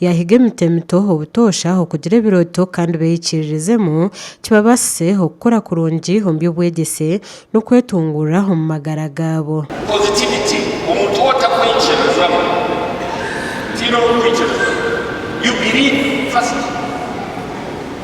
Yaahiga emiti emito obutoosha okugira ebirooto kandi beeyikiririzemu, kibabaasise okukura kurungi omu by'obwegyese n'okwetunguura omu magara gaabo. Positivity, Omuntu ou otakwikirizamu, otaine orikwikiriza, you believe first.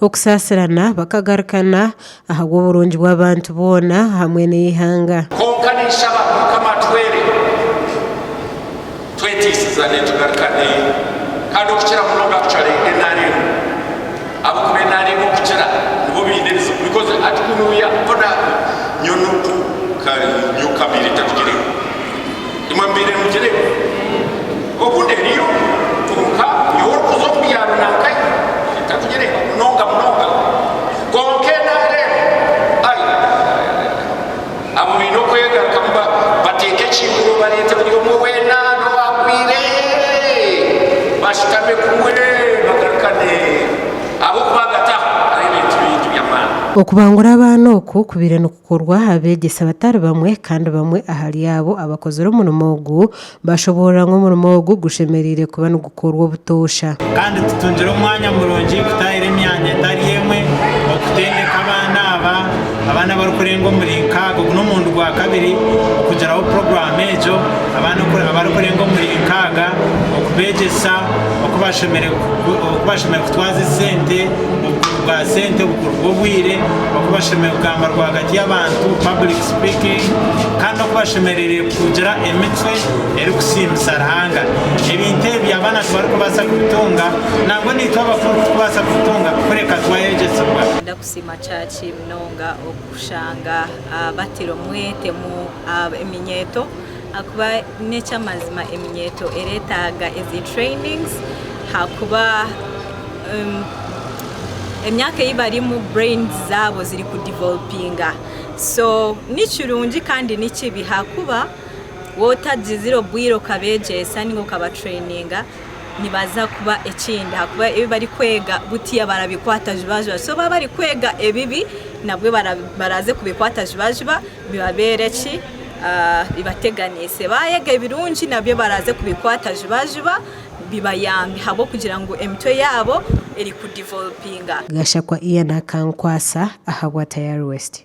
Okusaasirana, bakagarukana ahabw'oburungi bw'abantu boona hamwe n'eihanga. Kwonka ninshaba Mukama atwere twetiisizane tugarukane kandi okukira munonga kucware nrm ahabw'okuba nrm okukira nibo baine ebizibu because hati kunuya nyowe nunku nka nyowe Kabeire tatugireho. Imwe mbaire nugire ngu, Oku neriyo, kwonka nyowe orikuza omu bya runankai mbaire ntakugireeba munonga munonga, kwonka enaara enu, ai, abo baine okwegarikamu bateeke ekiimuuro bareete buri omwe weena n'owaagwire bashutame kumwe bagarukane ahabw'okuba hagati aho hariho ebintu bingi by'amaani. Okubangura abaana oku kubaire kukorwa abeegyesa batari bamwe, kandi bamwe ahari abo abakozire omurimo ogu baashoboorora ngu omurimo ogu gushemereire kuba nigukorwa obutoosha. Kandi tutungire omwanya murungi kutaahira emyanya etari emwe okutendeka abaana aba, abaana abarikurenga omuri nkaaga, ogu n'omurundi gwa kabiri okugiraho puroguraamu egyo, abaana abarikurenga omuri nkaaga okubeegyesa oku bashemereire kutwaza esente. bwa sente obukuru bw'obwire oku bashemereire kugamba rwagati y'abantu, public speaking, kandi n'oku bashemereire kugira emicwe erikusiimisa Ruhanga. Ebintu ebi abaana tibarikubaasa kubitunga, nangwa naitwe abakuru tikubaasa kubitunga kureka twayegyesibwa. Ndakusiima kyaki munonga okushanga batire omwete mu eminyeeto. Akuba nekyamazima eminyeeto eretaaga ezi trainings hakuba emyaka eyibarimu brains zaabo ziri ku developinga so nikirungi kandi nikibi hakuba waaba otagizire obwiire okabegyesa ninga okaba traininga nibaza kuba ekindi hakuba ebi bari kweega butiya barabikwata jubajuba so baaba bari kweega ebibi nabwe baraza kubikwata jubajuba bibabeere ki? bibateganiise. Baayega ebirungi nabyo baraaze kubikwata jubajuba bibayambe ahabw'okugira ngu emitwe yaabo eri kudivolupinga. Gashakwa Ian akankwasa ahabwa Tayari West.